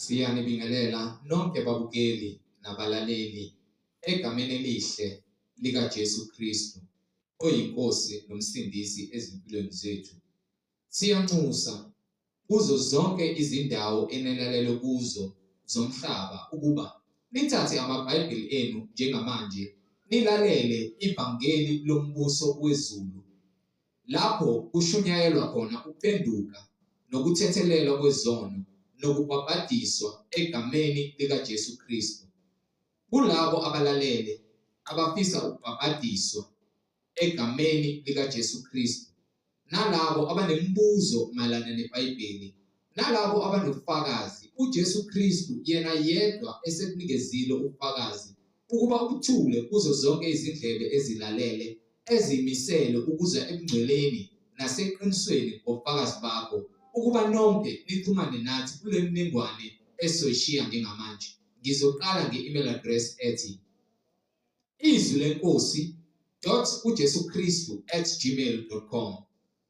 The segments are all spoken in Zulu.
Siyanibingelela nonke babukeli nabalaleli egameni elihle likaJesu Kristu oyiNkosi nomsindisi ezimpilweni zethu. Siyanxusa kuzo zonke izindawo enilalele kuzo zomhlaba ukuba nithathe amaBhayibheli enu njengamanje nilalele ivangeli lombuso wezulu. Lapho kushunyayelwa khona ukupenduka nokuthethelelwa kwezono nokubhabhadiswa egameni likaJesu Kristu. Kulabo abalalele abafisa ukubhabhadiswa egameni likaJesu Kristu nalabo abanemibuzo mayelana neBhayibheli Nalabo abanobufakazi, uJesu Kristu yena yedwa esebunikezile ubufakazi, ukuba ubuthule kuzo zonke izindlebe ezilalele, ezimisele ukuza ebungcweleni naseqinisweni ngobufakazi bakho, ukuba nonke nixhumane nathi kule miningwane esoyishiya njengamanje. Ngizoqala nge-email address ethi izwi lenkosi dot ujesu kristu at gmail dot com.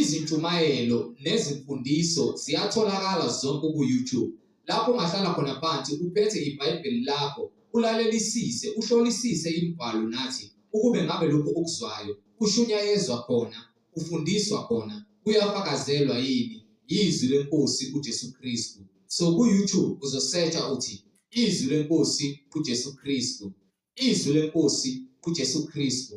Izintshumayelo nezimfundiso ziyatholakala zonke ku-YouTube. Lapho ungahlala khona phansi uphethe iBhayibheli lakho, ulalelisise, uhlolisise imibhalo nathi ukube ngabe lokhu okuzwayo kushunyayezwa khona, kufundiswa khona, kuyafakazelwa yini yizwi lenkosi uJesu Kristu. So ku-YouTube uzosetsha uthi izwi lenkosi uJesu Kristu. izwi lenkosi uJesu Kristu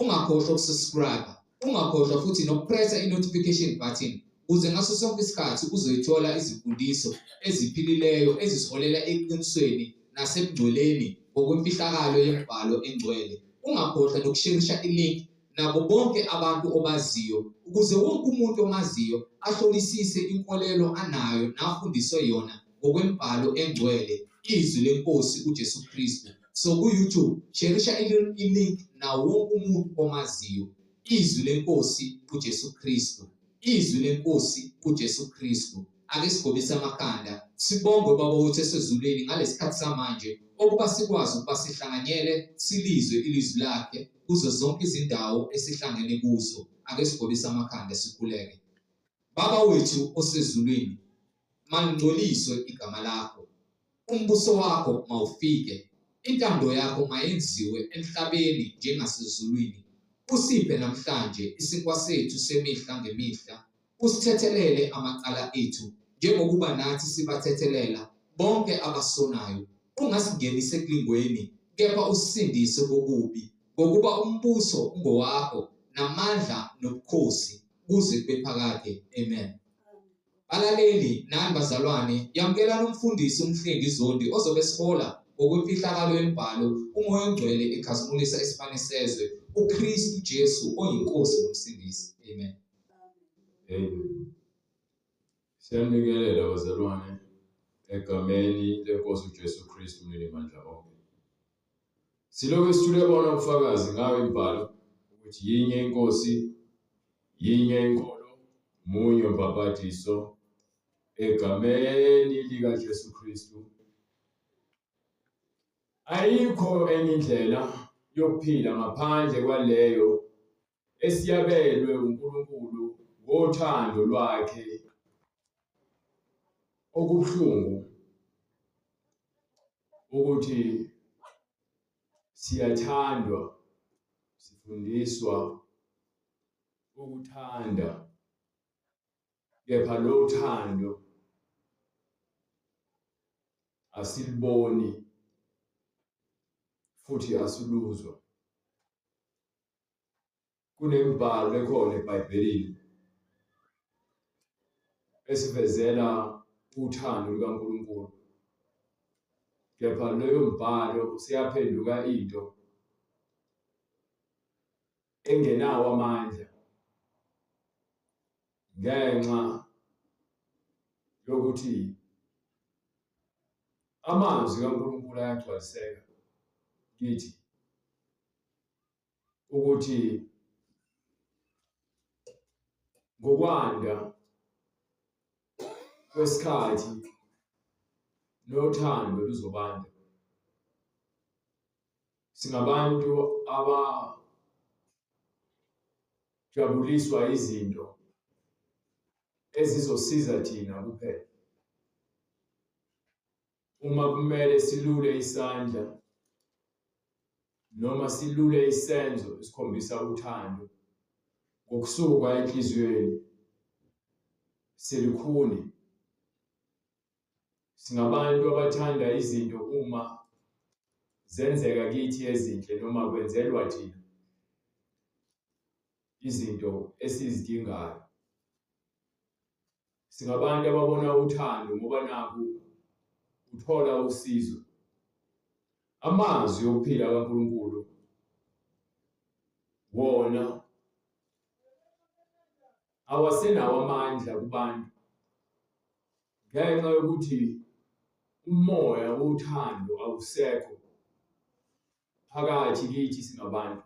ungakhohlwa ukusubscribe ungakhohlwa futhi nokupressa i-notification button ukuze ngaso sonke isikhathi uzoyithola izimfundiso eziphilileyo ezisiholela eqinisweni nasebungcweleni ngokwemfihlakalo yembhalo engcwele ungakhohlwa nokusherisha ilink nabo bonke abantu obaziyo ukuze wonke umuntu omaziyo ahlolisise inkolelo anayo nafundiswe yona ngokwembhalo engcwele izwi lenkosi uJesu Kristu so ku-youtube sherisha ilink nawo wonke umuntu omaziyo izwi lenkosi uJesu Kristu izwi lenkosi uJesu Kristu ake sigobise amakhanda sibonge ubaba wethu esezulwini ngalesi khathi samanje okuba sikwazi ukuba sihlanganyele silizwe ilizwi lakhe kuzo zonke izindawo esihlangene kuzo ake sigobise amakhanda sikhuleke baba wethu osezulwini mangcoliswe igama lakho umbuso wakho mawufike intando yakho mayenziwe emhlabeni njengasezulwini usiphe namhlanje isinkwa sethu semihla ngemihla usithethelele amacala ethu njengokuba nathi sibathethelela bonke abasonayo ungasingenisi ekulingweni kepha usisindise kokubi ngokuba umbuso ungowakho namandla nobukhosi kuze kube phakade amen balaleli nani bazalwane yamukela nomfundisi umhlengi zondi ozobe sihola ngokwemfihlakalo yembhalo umoya ongcwele ekhazimulisa isibane sezwe ukristu jesu oyinkosi nomsindisi amen Amen. Siyanikelela bazalwane egameni lenkosi uJesu Kristu umnini mandla onke. Siloke sithule bona ubufakazi ngayo imbhalo ukuthi yinye inkosi, yinye inkolo, munye umbhabhadiso egameni lika Jesu Kristu. Ayikho enye indlela yokuphila ngaphandle kwaleyo esiyabelwe uNkulunkulu ngothando lwakhe okubuhlungu ukuthi siyathandwa sifundiswa ukuthanda kepha lo thando asiliboni futhi asiluzwa kunembhalo ekhona eBhayibhelini esivezela uthando lukaNkulunkulu kepha leyo mbhalo seyaphenduka into engenawo amandla ngenxa yokuthi amazwi kaNkulunkulu ayagcwaliseka kithi ukuthi ngokwanda kwesikhathi nothando luzobanda singabantu aba jabuliswa izinto ezizosiza thina kuphela uma kumele silule isandla noma silule isenzo esikhombisa uthando ngokusuka enhliziyweni silikhuni singabantu abathanda izinto uma zenzeka kithi ezinhle noma kwenzelwa thina izinto esizidingayo Singabantu ababona uthando ngoba nakho uthola usizo. Amazwi okuphila kaNkulunkulu wona awasenawo amandla kubantu ngenxa yokuthi umoya wothando awusekho phakathi kithi singabantu.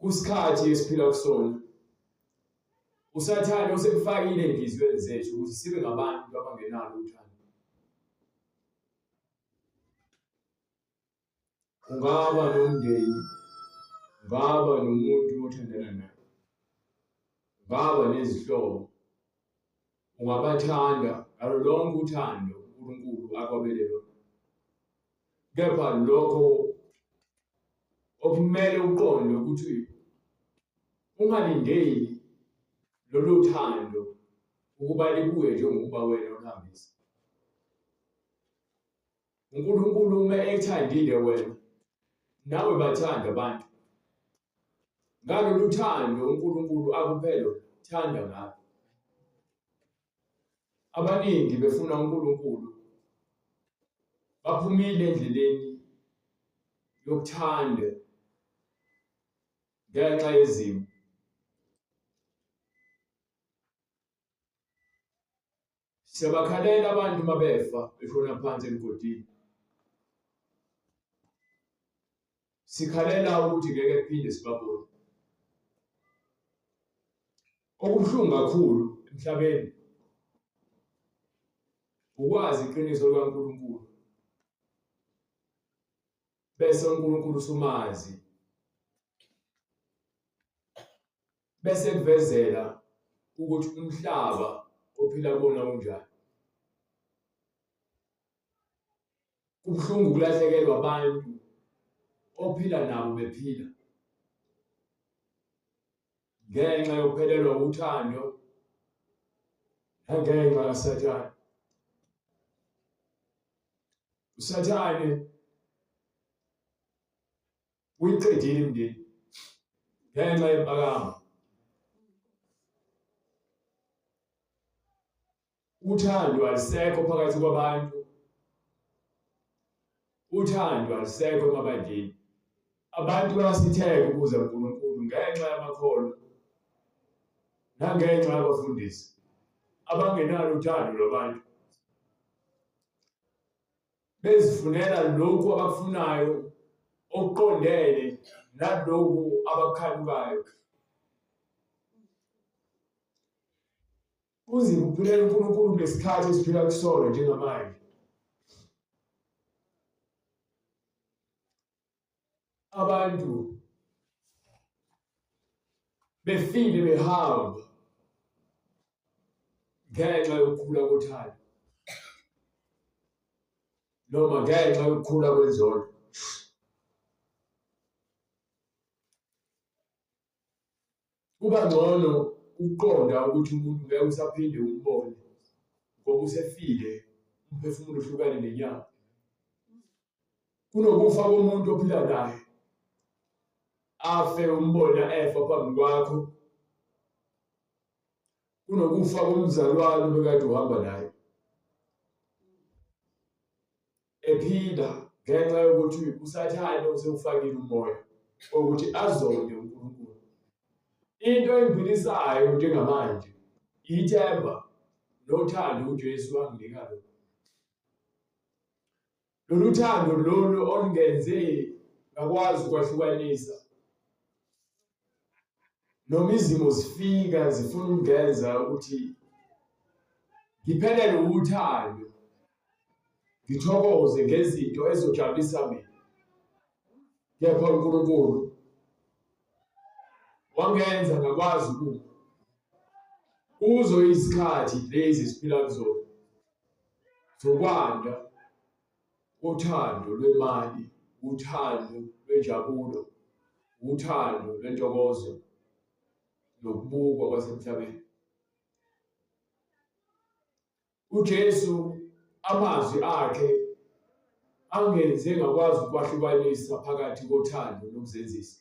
kusikhathi esiphila kusona usathane usekufakile enhliziyweni zethu ukuthi sibe ngabantu abangenalo uthando ungaba nomndeni ungaba nomuntu othandana naye ungaba nezihlobo Ungabathanda ngalo lonke uthando uNkulunkulu akwabele lona. Kepha lokho okumele uqonde ukuthi ungalindeli lolu thando ukuba libuye njengokuba wena uhambisa. uNkulunkulu uma ethandile wena nawe bathanda abantu ngalolu thando uNkulunkulu akuphelo thanda ngalo abaningi befuna uNkulunkulu baphumile endleleni yokuthanda ngenxa yezimo Siyabakhalela abantu mabefa beshona phansi emgodini. Sikhalela ukuthi ngeke kuphinde sibabone. Okubuhlungu kakhulu emhlabeni ukwazi iqiniso likaNkulunkulu bese uNkulunkulu usumazi bese kuvezela ukuthi umhlaba ophila kuwona unjani kubuhlungu ukulahlekelwa abantu ophila nabo bephila ngenxa yokuphelelwa uthando nangenxa kasathane usathane uyiqedile imndeni ngenxa yempakamo uthando alisekho phakathi kwabantu uthando alisekho emabandleni abantu bayasitheka ukuza kuNkulunkulu ngenxa yamakholwa nangenxa yabafundisi abangenalo uthando lwabantu bezifunela lokhu abakufunayo okuqondene nalokhu abakukhanukayo kunzima ukuphilela uNkulunkulu ngesikhathi esiphila kusona njengamanje abantu befile behamba ngenxa yokukhula kothando noma ngenxa yokukhula kwenzondo kuba ngcono ukuqonda ukuthi umuntu ngeke usaphinde umbone ngoba usefile umphefumulo uhlukane nenyama kunokufa komuntu ophila naye afe umbona efa phambi kwakho kunokufa komzalwane obekade uhamba naye ephinda ngenxa yokuthi usathane usewufakile umoya ukuthi azonde uNkulunkulu into engiphilisayo njengamanje ithemba nothando uJesu wanginika lona lolu thando lolu olungenze ngakwazi ukwahlukanisa noma izimo zifika zifuna ukungenza ukuthi ngiphelele uthando ngithokoze ngezinto ezojabulisa mina kepha uNkulunkulu wangenza ngakwazi ukuba kuzo izikhathi lezi siphila kuzona zokwanda Uthando lwemali, uthando lwenjabulo, uthando lwentokozo nokubukwa kwasemhlabeni. UJesu amazwi akhe angenze ngakwazi ukwahlukanisa phakathi kothando nokuzenzisa.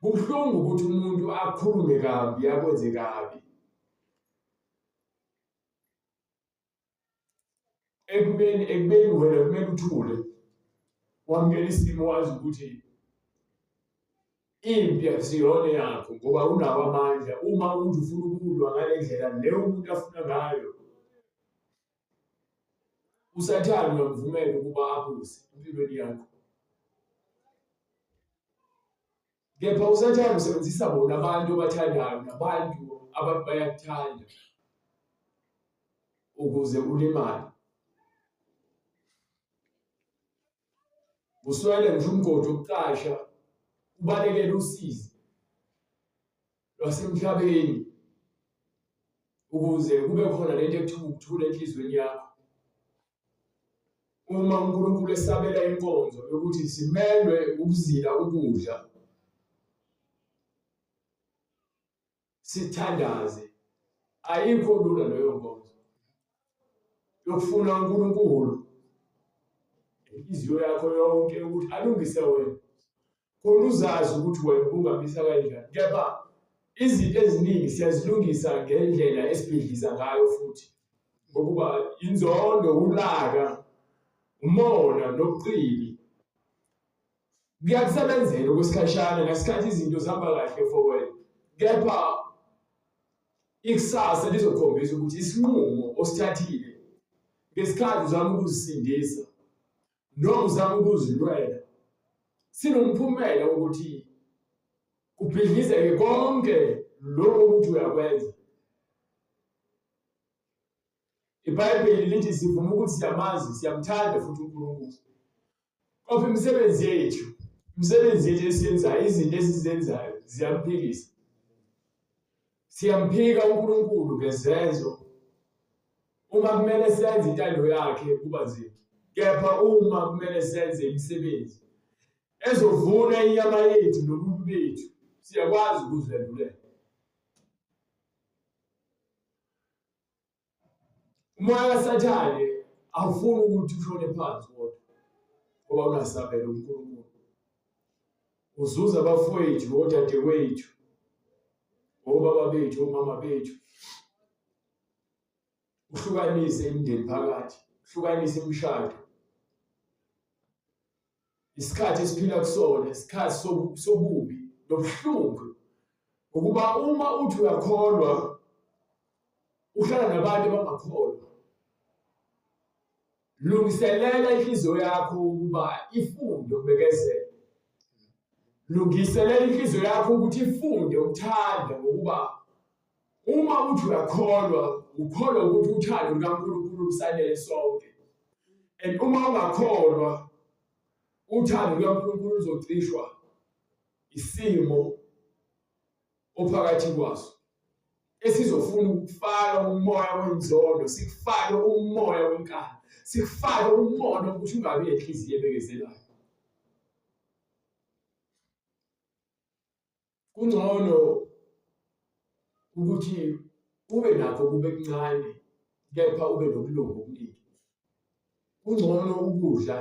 kubuhlungu ukuthi umuntu akhulume kabi akwenze kabi ekubeni ekubeni wena kumele uthule wamukela isimo wazi ukuthi impi akusiyona yakho ngoba unawo amandla uma umuntu ufuna ukulwa ngale ndlela leyo umuntu afuna ngayo usathane uyamvumela ukuba abuse empilweni yakho kepha usathane usebenzisa bona abantu obathandayo nabantu abantu bayakuthanda ukuze ulimale uswele ngisho umgodi wokuqasha ubalekele usizi lwasemhlabeni ukuze kube khona lento ekuthiwa ukuthula enhliziyweni yakho uma uNkulunkulu esabela inkonzo yokuthi simelwe ukuzila ukudla sithandaze ayikho lula leyo nkonzo yokufuna uNkulunkulu inhliziyo yakho yonke ukuthi alungise wena khona uzazi ukuthi wena ubungabisa kanjani kepha izinto eziningi siyazilungisa ngendlela esibhidliza ngayo futhi ngokuba inzondo ulaka umona nobuqili kuyakusebenzela okwesikhashana ngesikhathi izinto zihamba kahle for wena kepha ikusasa lizokhombisa ukuthi isinqumo osithathile ngesikhathi uzama ukuzisindisa noma uzama ukuzilwela sinomphumela wokuthi kubhidlizeke konke lokho ukuthi uyakwenza ibhayibheli lithi sivuma ukuthi siyamazi siyamthanda futhi unkulunkulu kodwa imisebenzi yethu imisebenzi yethu esiyenzayo izinto esizenzayo ziyamphilisa Siyamphika uNkulunkulu ngezenzo. Uma kumele senze intando yakhe kuba nzima. Kepha uma kumele senze imisebenzi ezovuna inyama yethu nobuntu bethu, siyakwazi ukuziphendulela. umoya kasathane awufuni ukuthi ushone phansi kodwa ngoba ungasabela uNkulunkulu uzuza abafowethu nodadewethu obaba bethu omama bethu uhlukanise imindeni phakathi uhlukanise imishado Isikhathi esiphila kusona isikhathi sobubi nobuhlungu ukuba uma uthi uyakholwa uhlala nabantu abangakholwa lungiselela inhliziyo yakho ukuba ifunde ukubekezela lungiselela inhliziyo yakho ukuthi ifunde ukuthanda ngokuba Uma uthi uyakholwa, ukholwa ukuthi uthando lukaNkulunkulu lusanele sonke. And uma ungakholwa, uthando lukaNkulunkulu luzocishwa isimo ophakathi kwaso. esizofuna ukufaka umoya wenzondo sikufake umoya wenkani sikufake umono ukuthi ungabi nenhliziyo ebekezelayo kungcono ukuthi ube nakho kube kuncane kepha ube nobulungu obuningi kungcono ukudla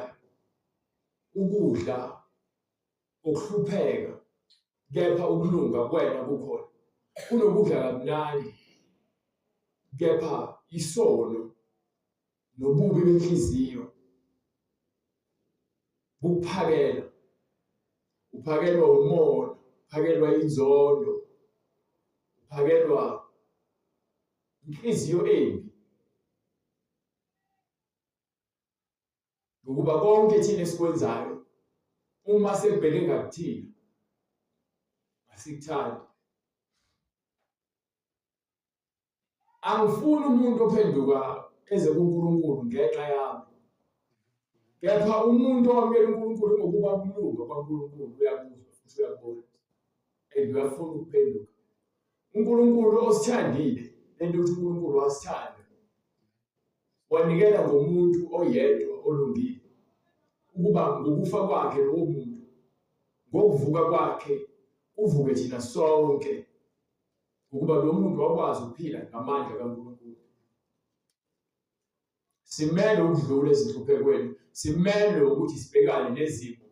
ukudla okuhlupheka kepha ukulunga kwena kukhona kunokudla kamnandi kepha isono nobubi benhliziyo bukuphakela uphakelwa umona uphakelwa inzondo uphakelwa inhliziyo embi ngokuba konke thina esikwenzayo uma sekubheke ngakuthina asikuthandi angifuni umuntu ophenduka eze kuNkulunkulu ngenxa yami kepha umuntu owamukela uNkulunkulu ngokuba kulunga kwaNkulunkulu uyakuzwa futhi uyakubona and uyafuna ukuphenduka uNkulunkulu osithandile lento ukuthi uNkulunkulu wasithanda wanikela ngomuntu oyedwa olungile ukuba ngokufa kwakhe lowo muntu ngokuvuka kwakhe uvuke thina sonke ukuba lo muntu wakwazi ukuphila ngamandla kaNkulunkulu. Simele ukudlula ezinhluphekweni, simele ukuthi sibhekane nezimo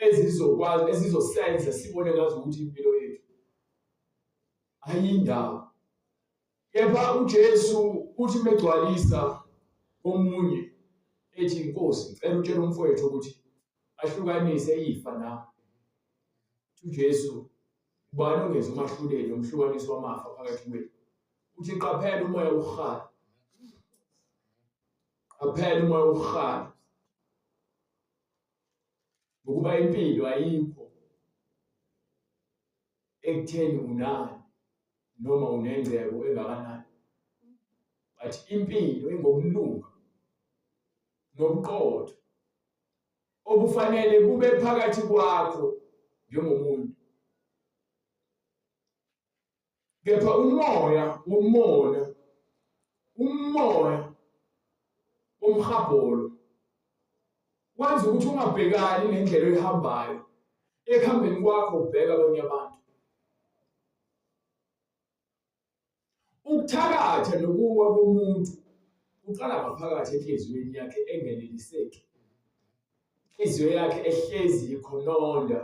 ezizokwazi ezizosenza sibone ngazo ukuthi impilo yethu ayindawo. Kepha uJesu uthi megcwalisa omunye ethi inkosi ngicela utshele umfowethu ukuthi ahlukanise ifa nami. UJesu Ubani ongeza umahluleli nomhlukanisi wamafa phakathi kwenu? Uthi qaphela umoya wokuhala. Qaphela umoya wokuhala. Ukuba impilo ayikho ekutheni unani noma unengcebo engakanani. But impilo ingokulunga nobuqotho okufanele kube phakathi kwakho njengomuntu kepha umoya womona umoya womhabholo kwenza ukuthi ungabhekani nendlela oyihambayo ekuhambeni kwakho ubheka abanye abantu Ukuthakatha nokuwa komuntu kuqala ngaphakathi enhliziyweni yakhe engeneliseki. Inhliziyo yakhe ehlezi ikhononda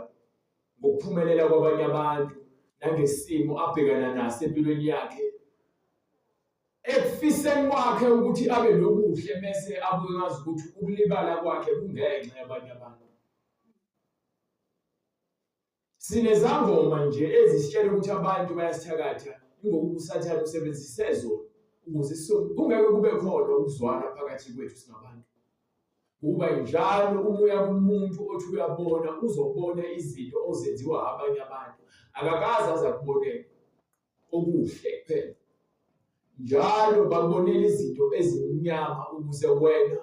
ngokuphumelela kwabanye abantu nangesimo abhekana naso empilweni yakhe ekufiseni kwakhe ukuthi abe nokuhle mese abuye ngazi ukuthi ukulibala kwakhe kungenxa yabanye abantu Sinezangoma nje ezisitshela ukuthi abantu bayasithakatha ingoba usathane usebenzise zona ukuze kungeke kube khona ukuzwana phakathi kwethu singabantu. Kuba njalo umoya kumuntu othi uyabona uzobona izinto ozenziwa abanye abantu akakaze aze akubonele. okuhle kuphela. Njalo babonela izinto ezimnyama ukuze wena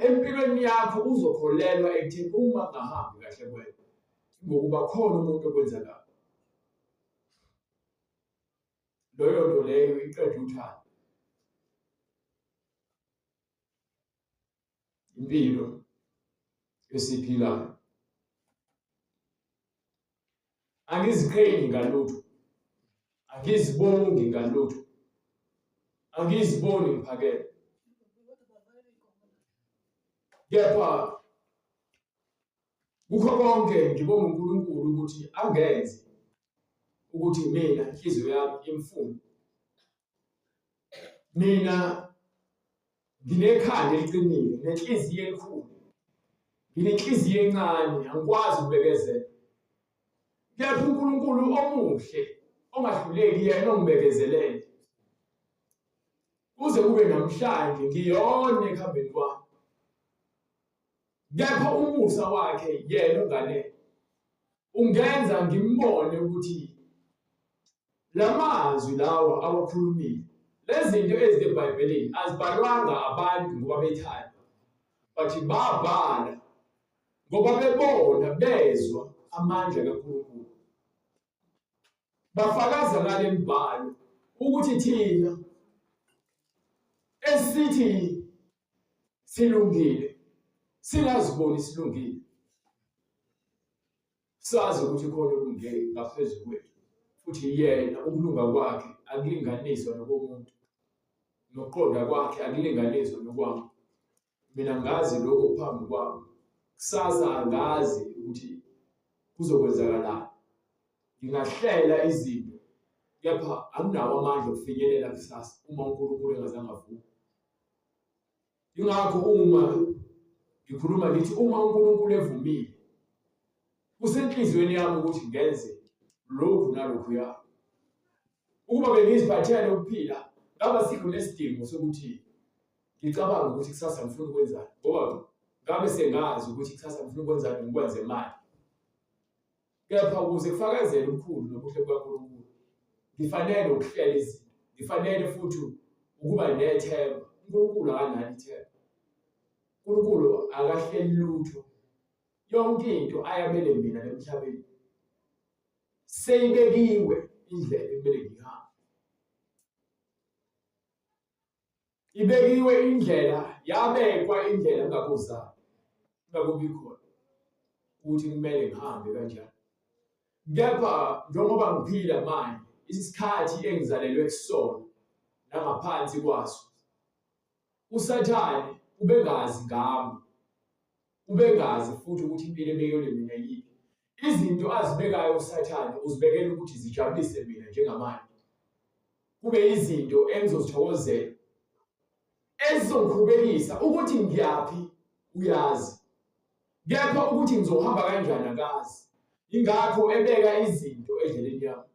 empilweni yakho uzokholelwa ekutheni uma ngahambi kahle kwena ngokuba khona umuntu okwenza kabi. Loyo nto leyo iqeda uthando. impilo esiphilayo angiziqhenyi ngalutho angizibongi ngalutho angiziboni ngiphakele kepha kukho konke ngibonga uNkulunkulu ukuthi angenzi ukuthi mina inhliziyo yami imfune mina nginekhanda eliqinile nenhliziyo enkulu nginenhliziyo encane angikwazi ukubekezela kepha uNkulunkulu omuhle ongahluleki yena ongibekezelele kuze kube namhlanje ngiyona ekuhambeni kwami kepha umusa wakhe yena ngale ungenza ngimbone ukuthi lamazwi lawa awakhulumile lezinto ezibhayibhelini azibhalwanga abantu ngoba bethanda but babhala ngoba bebona bezwa amandla kaNkulunkulu bafakaza ngale mbhalo ukuthi thina esithi silungile singaziboni silungile sazi ukuthi khona olunge ngaphezu kwethu futhi yena ukulunga kwakhe akulinganiswa nokomuntu nokuqonda kwakhe akulinganiswa nokwami mina ngazi lokho phambi kwami kusasa angazi ukuthi kuzokwenzakalani ngingahlela izinto kepha anginawo amandla okufinyelela kusasa uma uNkulunkulu engazange avume Ingakho uma ngikhuluma ngithi uma uNkulunkulu evumile kusenhliziyweni yami ukuthi ngenze lokhu nalokhu ya ukuba bengiziphathela lokuphila ngaba sikho nesidingo sokuthi ngicabanga ukuthi kusasa ngifuna ukwenzani ngoba ngabe sengazi ukuthi kusasa ngifuna ukwenzani ngikwenze manje Kepha ukuze kufakazele ubukhulu nobuhle bukaNkulunkulu, ngifanele ukuhlela izinto, ngifanele futhi ukuba nethemba. UNkulunkulu akanalo ithemba. UNkulunkulu akahleli lutho. Yonke into ayabele mina emhlabeni seyibekiwe indlela ekumele ngihambe. Ibekiwe indlela, yabekwa indlela ngakuzama. Ngakubi khona ukuthi kumele ngihambe kanjani. Kepha njengoba ngiphila manje, isikhathi engizalelwe kusona nangaphansi kwaso, uSathane ubengazi ngami. Ubengazi futhi ukuthi impilo ebekele mina yiphi. Izinto azibekayo uSathane uzibekela ukuthi zijabulise mina njengamanje. Kube izinto engizozithokozela ezizongikhubekisa ukuthi ngiyaphi uyazi. Kepha ukuthi ngizohamba kanjani akazi. Ingakho ebeka izinto endleleni yami.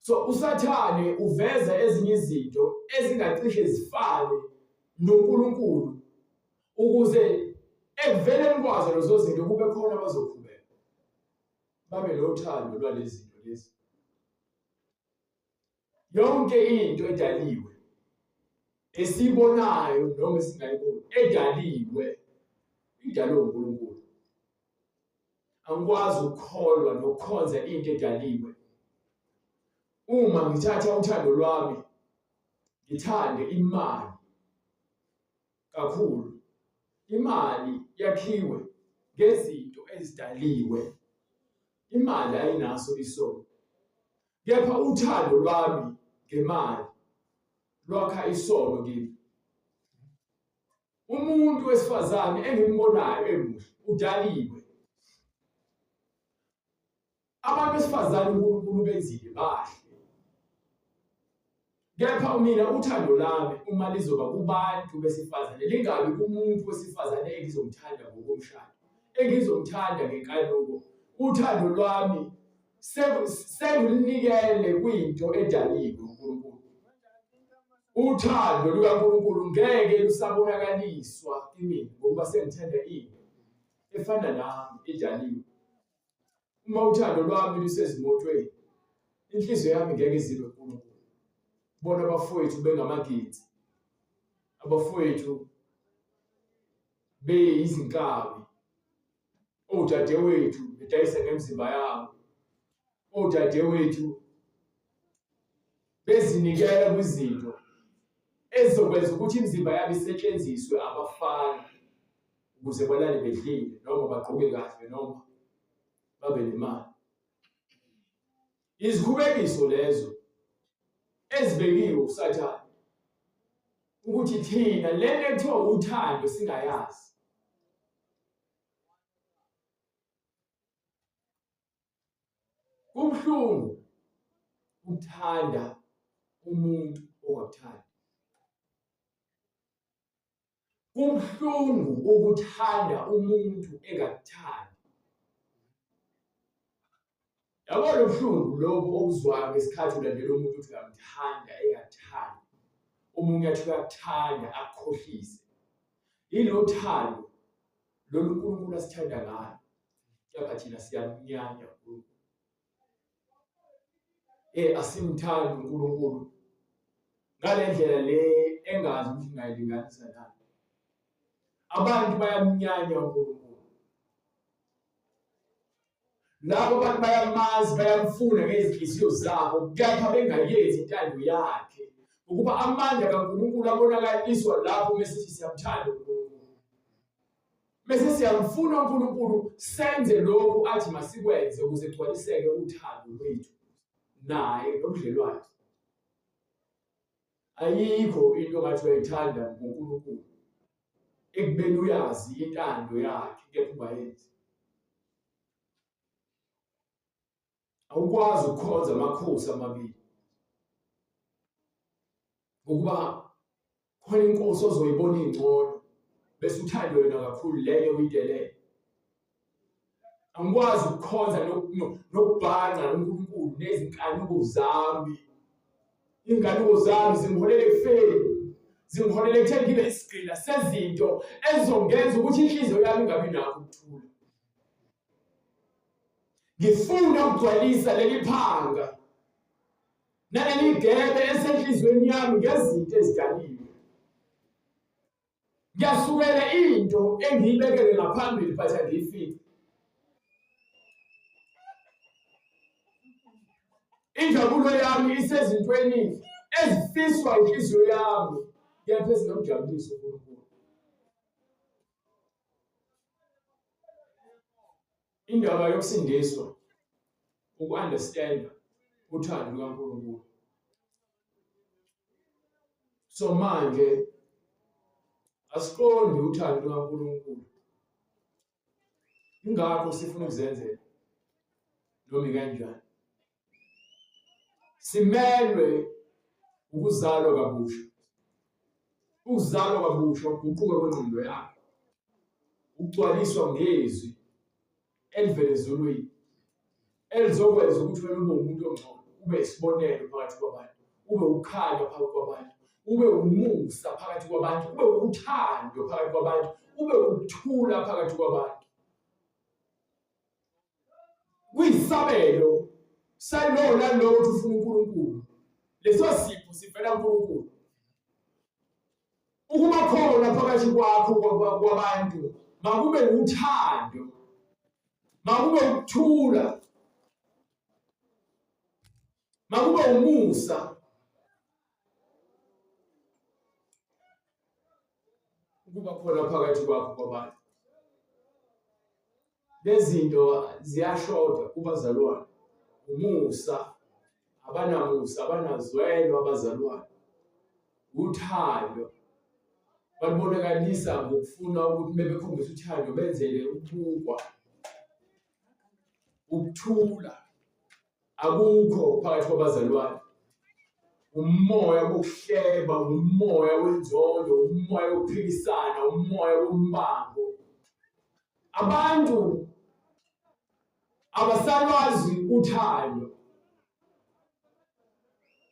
So uSathane uveza ezinye izinto ezingacishe zifane noNkulunkulu ukuze ekuveleni kwazo lezo zinto kube khona abazokhubeka babe lothando lwalezi zinto lezi yonke into edaliwe esibonayo noma esingayiboni edaliwe idalwe uNkulunkulu angikwazi ukukholwa nokukhonza into edaliwe uma ngithatha uthando lwami ngithande imali kakhulu imali yakhiwe ngezinto ezidaliwe imali ayinaso isono kepha uthando lwami ngemali lwakha isono kimi umuntu wesifazane engimbonayo emuhle udaliwe abantu besifazane uNkulunkulu benzile bahle kepha mina uthando lami uma lizoba kubantu besifazane lingabi kumuntu wesifazane engizomthanda ngokomshado engizomthanda ngenkanuko uthando lwami sekulinikele kwinto edaliwe uNkulunkulu uthando lukaNkulunkulu ngeke lusabonakaliswa kimina ngokuba sengithanda into efana nami edaliwe uma uthando lwami lusezimotweni inhliziyo yami ngeke izibe kuNkulunkulu bona abafowethu bengamagidi abafowethu beyizinkabi odadewethu bedayise ngemzimba yabo odadewethu bezinikela kwizinto ezizokwenza ukuthi imizimba yabo isetshenziswe abafana ukuze balale bedlile noma bagqoke kahle noma babe nemali Izikhubekiso lezo ezibekiwe usathane ukuthi thina lento ekuthiwa uthando singayazi kubuhlungu ukuthanda umuntu ongakuthandi Kubuhlungu ukuthanda umuntu engakuthandi. Yabo lobuhlungu lobo obuzwayo ngesikhathi ulandela umuntu uthi ngamthanda engathandi. Umuntu athi uyakuthanda akukhohlise. Yini uthando lolu uNkulunkulu asithanda ngalo. Kepha thina siyamunyanya uNkulunkulu. eh asimthandi uNkulunkulu ngalendlela le engazi ukuthi ngayilinganisa nani abantu bayamnyanya uNkulunkulu labo abantu bayamazi bayamfuna ngezinhliziyo zabo kepha bengayenzi intando yakhe ukuba amandla kaNkulunkulu abonakaliswa lapho mesithi siyamthanda uNkulunkulu Bese siyamfuna uNkulunkulu senze lokhu athi masikwenze ukuze kugcwaliseke uthando lwethu naye nobudlelwane. Ayikho into ngathi uyayithanda ngoNkulunkulu ekubeni uyazi intando yakhe kepha ungayenzi. awukwazi ukukhonza amakhosi amabili ngokuba khona inkosi ozoyibona ingcono bese uthande wena kakhulu leyo uyidelele angikwazi ukukhonza nokubhanqa noNkulunkulu nezinkanuko zami inkanuko zami zimholela ekufeni zimholela ekutheni ngibe isigqila sezinto ezizongenza ukuthi inhliziyo yami ingabi nakho ukuthula Ngifuna ukugcwalisa leli phanga naleli gebe esenhlizweni yami ngezinto ezidaliwe. Ngiyasukela into engiyibekele ngaphambili but angiyifici. Injabulo yami isezintweni ezifiswa inhliziyo yami kepha ezinomjabuliso uNkulunkulu. indaba yokusindiswa uku-understanda uthando lukaNkulunkulu so manje asiqondi uthando lukaNkulunkulu ingakho sifuna ukuzenzela noma kanjani simelwe ukuzalwa kabusha ukuzalwa kabusha ukuguquka kwengqondo yakho ukugcwaliswa ngezwi elivele ezulwini elizokwenza ukuthi wena ube umuntu ongcono ube isibonelo phakathi kwabantu ube ukhanya phakathi kwabantu ube umusa phakathi kwabantu ube uthando phakathi kwabantu ube ukuthula phakathi kwabantu kuyisabelo salowo nalowo ukuthi ufuna uNkulunkulu leso sipho sivela kuNkulunkulu ukuba khona phakathi kwakho kwabantu makube uthando makube ukuthula Makube umusa. Ukuba khona phakathi kwakho kwabanye. Lezinto ziyashoda kubazalwane. Umusa abanamusa abanazwelo abazalwane. Uthando balubonakalisa ngokufuna ukuthi bebekhombisa uthando benzele ukubukwa ukuthula Akukho phakathi kwabazalwane. Umoya wokuhleba, umoya wenzondo, umoya wokuphikisana, umoya wombango. Abantu abasalwazi uthando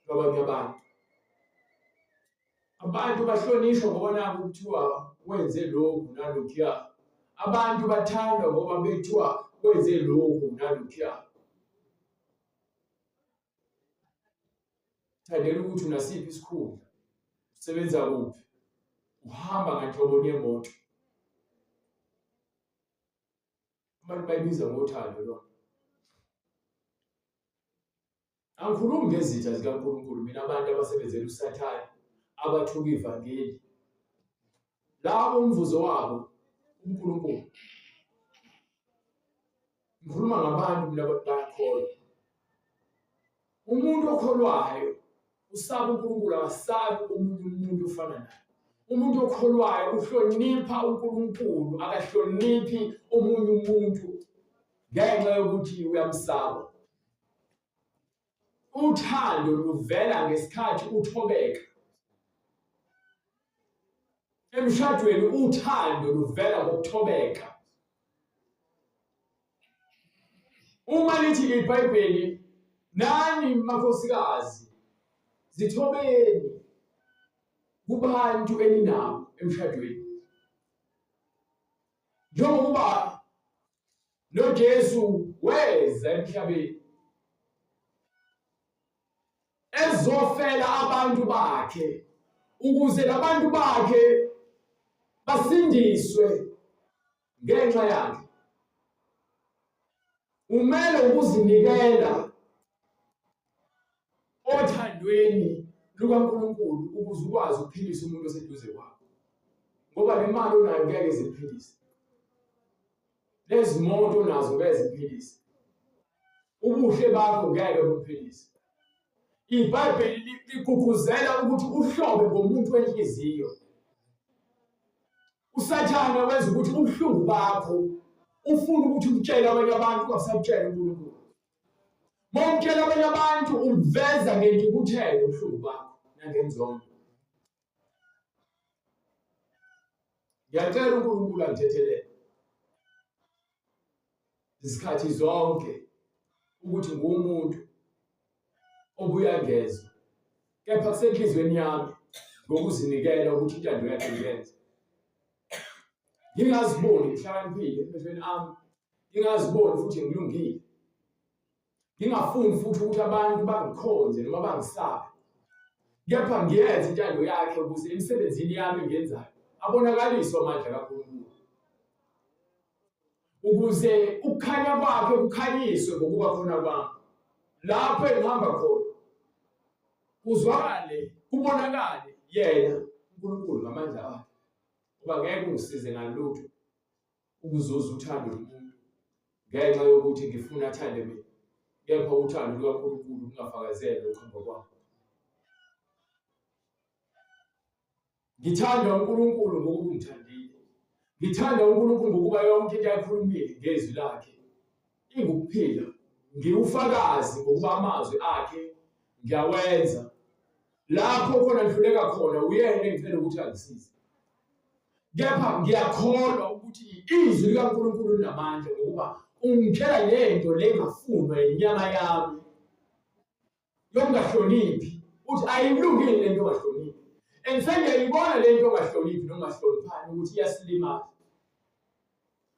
lwabanye abantu. Abantu bahlonishwa ngoba naku kuthiwa wenze lokhu nalokhuya. Abantu bathandwa ngoba bethiwa wenze lokhu nalokhuya. Thandela ukuthi unasiphi isikhundla, usebenza kuphi, uhamba nganhlobo yemoto. Abantu bayibiza ngothando lona. Angikhulumi ngezitha zikaNkulunkulu mina abantu abasebenzela uSathane abathuka ivangeli. Labo umvuzo wabo uNkulunkulu. Ngikhuluma ngabantu mina bakholwa. Umuntu okholwayo usaba uNkulunkulu akasabi omunye umuntu ofana naye. Umuntu okholwayo uhlonipha uNkulunkulu akahloniphi omunye umuntu ngenxa yokuthi uyamsaba. Uthando luvela ngesikhathi uthobeka. Emshadweni uthando luvela ngokuthobeka. Uma lithi iBhayibheli nani makhosikazi zithobeni kubantu eninabo emshadweni njengokuba noJesu weza emhlabeni ezofela abantu bakhe ukuze labantu bakhe basindiswe ngenxa yakhe umele ukuzinikela othandweni lukaNkulunkulu ukuze ukwazi ukuphilisa umuntu oseduze kwakho ngoba le mali onayo ngeke ziphilise lezi moto nazo ngeke ziphilise ubuhle bakho ngeke buphilise ibhayibheli ligqugquzela ukuthi uhlobe ngomuntu wenhliziyo usathane wenza ukuthi ubuhlungu bakho ufuna ukuthi ukutshela abanye abantu kwasakutshela uNkulunkulu Mawutshela abanye abantu uveza ngentukuthelo ubuhlungu bakho nangenzondo. Ngiyacela uNkulunkulu angithethelele izikhathi zonke ukuthi ngumuntu obuya ngezwe kepha kusenhliziyweni yami ngokuzinikela ukuthi intando yakhe ngiyenze ngingaziboni ngihlakaniphile emehlweni ami ngingaziboni futhi ngilungile ngingafuni futhi ukuthi abantu bangikhonze noma bangisabe kepha ngiyenze intando yakhe ukuze emsebenzini yami engenzayo abonakaliswe amandla kaNkulunkulu ukuze ukukhanya kwakhe kukhanyiswe ngokuba khona kwami lapho engihamba khona kuzwakale kubonakale yena uNkulunkulu ngamandla akhe uba ngeke ungisize ngalutho ukuzuza uthando lomuntu ngenxa yokuthi ngifuna athande mina kepha uthando lukaNkulunkulu lungafakazele ukuhamba kwami ngithanda uNkulunkulu ngokungithandile ngithanda uNkulunkulu ngokuba yonke into ayikhulumile ngezwi lakhe Ingukuphila. Ngiwufakazi ngokuba amazwi akhe ngiyawenza. Lapho khona ngihluleka khona uyena engicela ukuthi angisize. Kepha ngiyakholwa ukuthi izwi likaNkulunkulu linamandla ngokuba ungikhela lento lengafunwa yinyama yami yokungahloniphi uthi ayimlungile le nto ongahloniphi and sengiyayibona le nto ongahloniphi nongahloniphani ukuthi iyasilimaza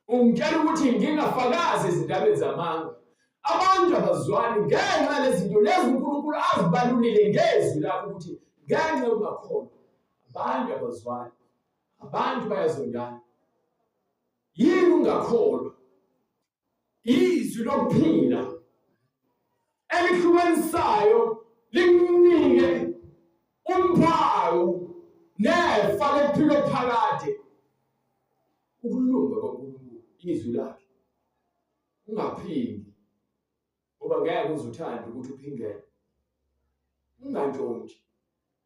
ungitshela ukuthi ngingafakazi ezindabeni zamanga abantu abazwani ngenxa lezinto lezi unkulunkulu azibalulile ngezwi lakho ukuthi ngenxa yokungakhona abantu abazwani abantu bayazondana yini ungakholwa izwi lokuphila elihlukanisayo likunike umphawu nefa lekuphila phakade ukulunga kwaNkulunkulu izwi lakhe ungaphindi ngoba ngeke uzuthande ukuthi uphindele ungantshontshi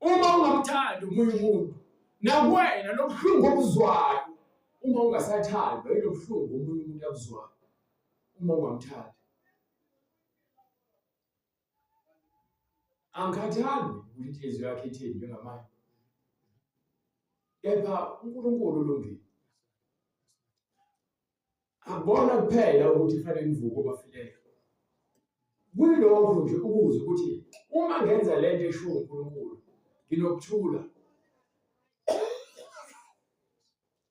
uma ungamthandi omunye umuntu nakuwena lobuhlungu obuzwayo uma ungasathandwa ilobuhlungu omunye umuntu abuzwayo uma ungamthandi angikhathali ukuthi inhliziyo yakhe ithini njengamanje kepha uNkulunkulu ulungile akubona kuphela ukuthi kufanele nivuke obafilele kulokho nje ukuze ukuthi uma ngenza le nto eshiwo uNkulunkulu nginokuthula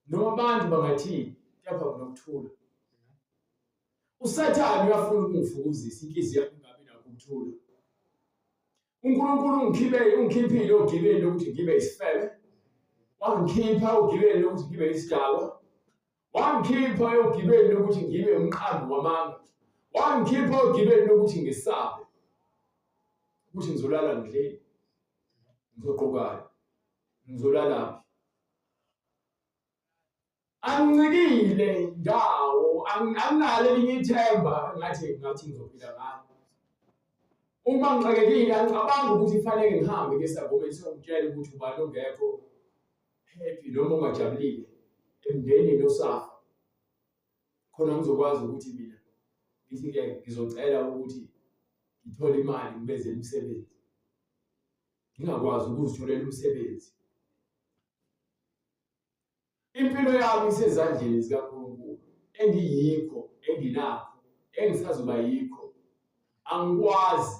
noma abantu bangathini kepha nginokuthula usathane uyafuna ukungifukuzisa inhliziyo yami ingabi nakho ukuthula uNkulunkulu ungikhiphele ungikhiphile ogibeni lokuthi ngibe isifebe wangikhipha ogibeni lokuthi ngibe isidakwa Wangikhipha ogibeni lokuthi ngibe umqambi wamanga. Wangikhipha ogibeni lokuthi ngisabe. Ukuthi ngizolala ngidleni. Ngizoqokana. Ngizolala phi? Angincikile ndawo, anginalo elinye ithemba ngathi ngathi ngizophila ngalo. Uma ngixakekile angicabangi ukuthi kufanele ngihambe ngesagomeni sokutshela ukuthi ubani ongekho happy noma ungajabulile emndenini osafa khona ngizokwazi ukuthi mina ngithi ke ngizocela ukuthi ngithole imali ngibeze imisebenzi ngingakwazi ukuzitholela umsebenzi impilo yami isezandleni zikaNkulunkulu engiyikho enginakho engisazoba yikho angikwazi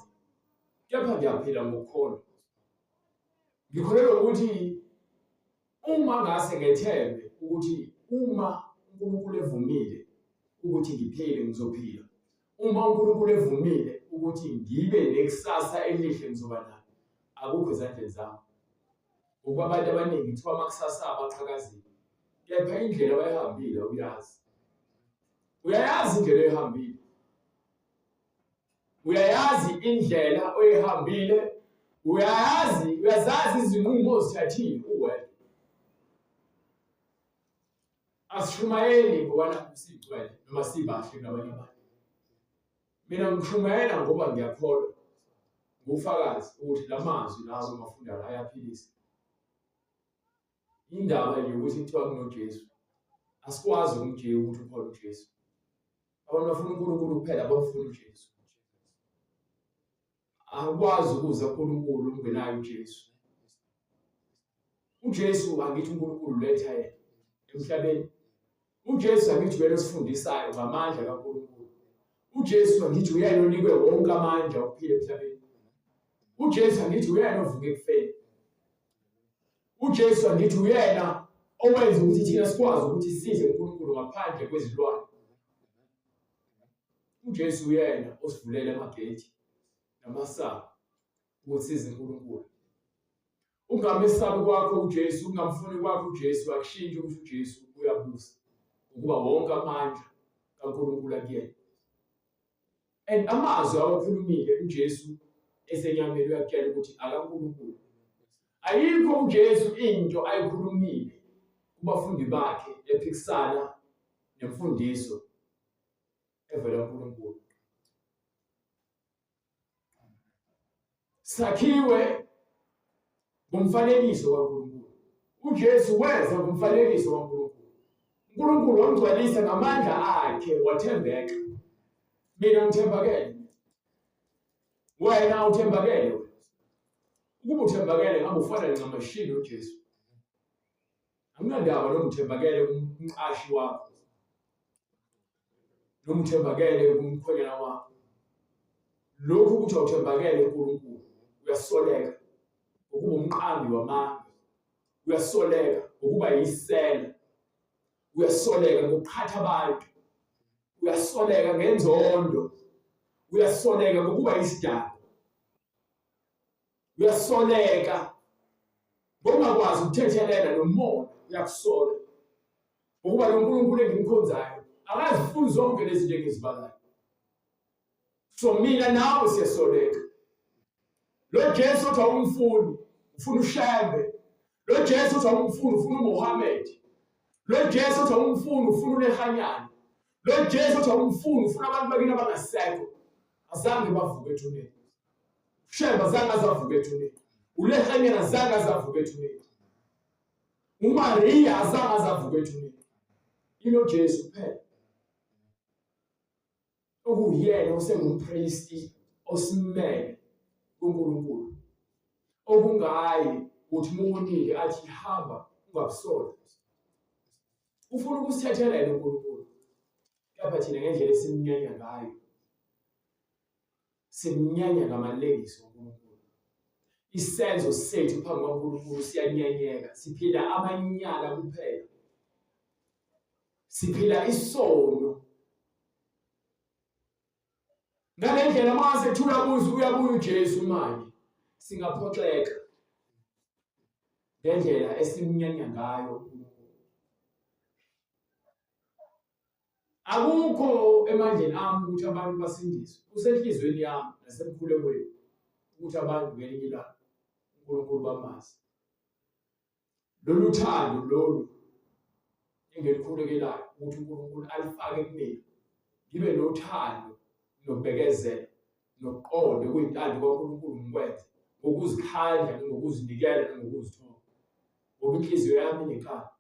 kepha ngiyaphila ngokukholwa Ngikholelwa ukuthi uma ngase ngethembe ukuthi uma uNkulunkulu evumile ukuthi ngiphile ngizophila. Uma uNkulunkulu evumile ukuthi ngibe nekusasa elihle ngizoba nalo. Akukho ezandleni zami. Ngoba abantu abaningi kuthiwa amakusasa abo aqhakazile. Kepha indlela abayihambile uyazi. Uyayazi indlela oyihambile. uyayazi indlela oyihambile uyayazi uyazazi izinqumo ozithathile uwedwa asishumayeli ngobana sigcwele noma sibahle nabanye abantu mina ngishumayela ngoba ngiyakholwa ngufakazi ukuthi la mazwi lazo mafunda la ayaphilisa indaba yokuthi kuthiwa kunojesu asikwazi ukumjika ukuthi ukhona ujesu abantu bafuna uNkulunkulu kuphela abafuna uJesu akwazi ukuza uNkulunkulu ungenayo uJesu uJesu angithi uNkulunkulu letha yena emhlabeni uJesu angithi uyena osifundisayo ngamandla kaNkulunkulu uJesu angithi uyena onikwe wonke amandla okuphila emhlabeni uJesu angithi uyena ovuke ekufeni uJesu angithi uyena owenza ukuthi thina sikwazi ukuthi size uNkulunkulu ngaphandle kwezilwane uJesu uyena osivulele amagate namasango ukuthi size uNkulunkulu ungamesabi kwakho uJesu ungamfuni kwakho uJesu akushintshe ukuthi uJesu uyabusa ukuba wonke amandla kaNkulunkulu akuyena and amazwi awakhulumile uJesu esenyameni uyakutshela ukuthi akaNkulunkulu ayikho uJesu into ayikhulumile kubafundi bakhe ephikisana nemfundiso evela kuNkulunkulu sakhiwe ngomfanekiso kaNkulunkulu. UJesu weza ngomfanekiso kaNkulunkulu. uNkulunkulu wamgcwalisa ngamandla akhe wathembeka. Mina ngithembakele. Wena uthembakele. Ukuba uthembakele ngabe ufana ncamashi noJesu. Anginandaba nomthembakele umqashi wakho. noma uthembakele kumkhwenyana wakho lokhu ukuthi awuthembakele uNkulunkulu uyasoleka ukuba umqambi wamanga uyasoleka ukuba yisela uyasoleka ngokuqhatha abantu uyasoleka ngenzondo uyasoleka ngokuba isidakwa uyasoleka ngokungakwazi ukuthethelela nomona uyakusola ngokuba lo nkulunkulu engimkhonzayo akazifuni zonke lezi zinto engizibalayo so mina nawe siyasoleka lo jesu uthi awumfuni ufuna ushembe lo jesu uthi awumfuni ufuna umuhamed lo jesu uthi awumfuni ufuna unehanyana Lo Jesu uthi awumfuni ufuna abantu bakini abangasekho. Azange bavuke ethuneni. Shemba zange azavuke ethuneni. ULehanyana zange azavuke ethuneni. UMariya azange azavuke ethuneni. Ilo Jesu kuphela. Okuyena osengumpristi osimele kuNkulunkulu. Okungayi ukuthi umuntu athi hamba ungabusoli. ufuna ukusithethelela uNkulunkulu kepha thina ngendlela esimnyanya ngayo simnyanya ngamalengiso uNkulunkulu isenzo sethu phambi kwaNkulunkulu siyanyanyeka siphila amanyala kuphela siphila isono ngale ndlela uma sethula kuze uyabuya uJesu manje singaphoxeka ngendlela esimnyanya ngayo akukho emandleni ami ukuthi abantu basindiswe usenhlizweni yami nasemkhulekweni ukuthi abantu ngelinye ilanga uNkulunkulu bamazi lolu thando lolu engilikhulekelayo ukuthi uNkulunkulu alifake kumina ngibe nothando nobekezela noqonde kuyintando kaNkulunkulu ngikwenze ngokuzikhandla ngokuzinikela ngokuzithoba ngoba inhliziyo yami nekhala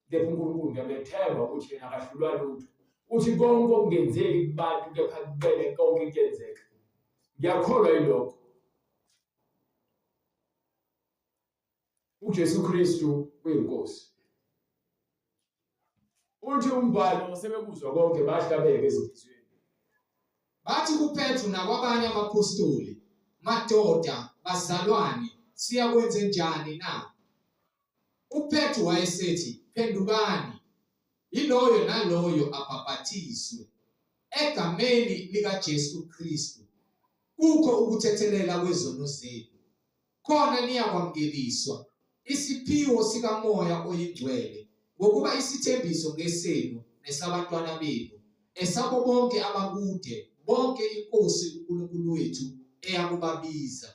kepha uNkulunkulu ngiyamethemba ukuthi yena akahlulwa lutho uthi konke okungenzeki kubantu kepha kubele konke kuyenzeka ngiyakholwa yilokho uJesu Kristu uyinkosi uthi umbhalo sebekuzwa konke bahlabeke ezinhlizweni bathi kuPetru nakwabanye abaphostoli madoda bazalwane siyakwenze njani na UPetru wayesethi, Phendukani, yiloyo naloyo abhapathiswe egameni likaJesu Kristu, kukho ukuthethelela kwezono zenu, khona niyakwamukeliswa isiphiwo sikamoya oyingcwele, ngokuba isithembiso ngesenu nesabantwana benu, esabo bonke abakude, bonke iNkosi uNkulunkulu wethu eyakubabiza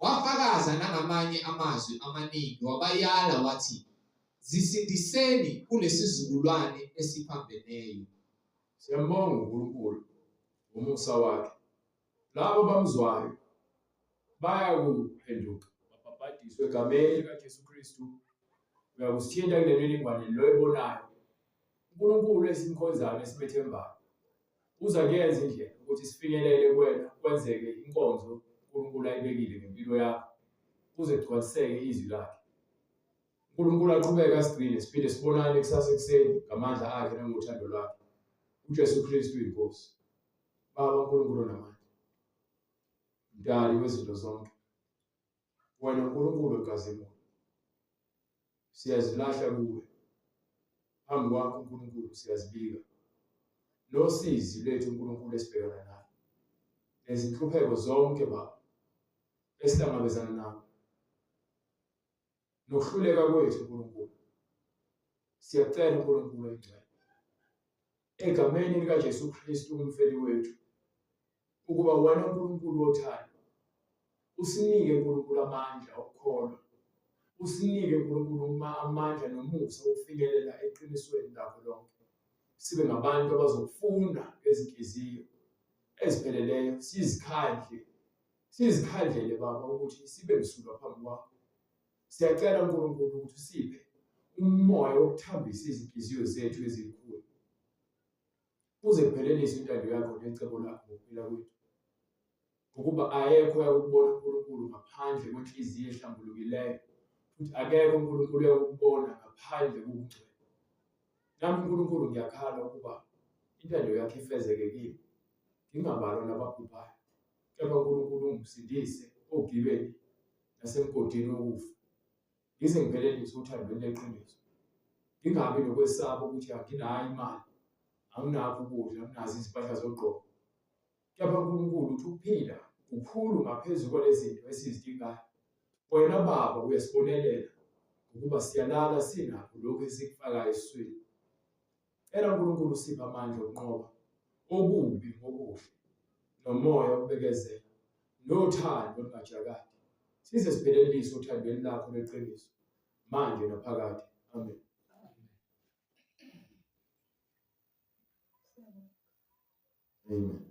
Wafakaza nangamanye amazwi amaningi wabayala wathi, Zisindiseni kulesizukulwane esiphambeneyo. Siyambonga uNkulunkulu ngomusa wakhe. Labo bamzwayo bayakuphenduka babhabhadiswe egameni likaJesu Kristu. Uyakusithinta kule mininingwane lo ebonayo uNkulunkulu esimkhonzayo esimethembayo. Uza kuyenza indlela ukuthi sifinyelele kuwena kwenzeke inkonzo uNkulunkulu ayibekile ngempilo yakho kuze kugcwaliseke izwi lakhe. uNkulunkulu aqhubeke asigcine siphinde sibonane kusasa ekuseni ngamandla akhe nangothando lwakhe. UJesu Kristu inkosi. Baba uNkulunkulu namandla. Mdali wezinto zonke. wena Nkulunkulu ogazimula siyazilahla kuwe phambi kwakho uNkulunkulu siyazibika losizi lethu uNkulunkulu esibhekana nayo nezinhlupheko zonke baba esihlangabezana nazo nokuhluleka kwethu uNkulunkulu siyacela uNkulunkulu oyingcwele egameni likaJesu Kristu umfeli wethu ukuba wena uNkulunkulu wothando usinike uNkulunkulu amandla okukholwa usinike uNkulunkulu uma amandla nomusa wokufinyelela eqinisweni lakho lonke sibe ngabantu abazokufunda ngezinhliziyo ezipheleleyo sizikhandle sizikhandlele baba ukuthi sibe msulwa phambi kwakho Siyacela uNkulunkulu ukuthi usiphe umoya wokuthambisa izinhliziyo zethu ezikhulu kuze kuphelelise intando yakho necebo lakho ngokuphila kwethu ngokuba ayekho yakubona uNkulunkulu ngaphandle kwenhliziyo ehlambulukileyo futhi akekho uNkulunkulu yakubona ngaphandle kokungcwele nami uNkulunkulu ngiyakhala ukuba intando yakhe ifezeke kimi ngingabalwa nababhubhayo kepha uNkulunkulu ungisindise ogibeni nasemgodini wokufa ngize ngiphelelise othandweni leqiniso ngingabi nokwesaba ukuthi anginayo imali anginakho ukudla anginazo izimpahla zogqoka kepha uNkulunkulu uthi ukuphila kukhulu ngaphezu kwalezinto esizidingayo wena baba uyasibonelela ukuba siyalala sinakho lokhu esikufakayo esiswini Cela uNkulunkulu usiphe amandla okunqoba okubi ngokuhle nomoya obekezela nothando olungajakadi size siphelelise uthandweni lakho leqiniso manje naphakade amen amen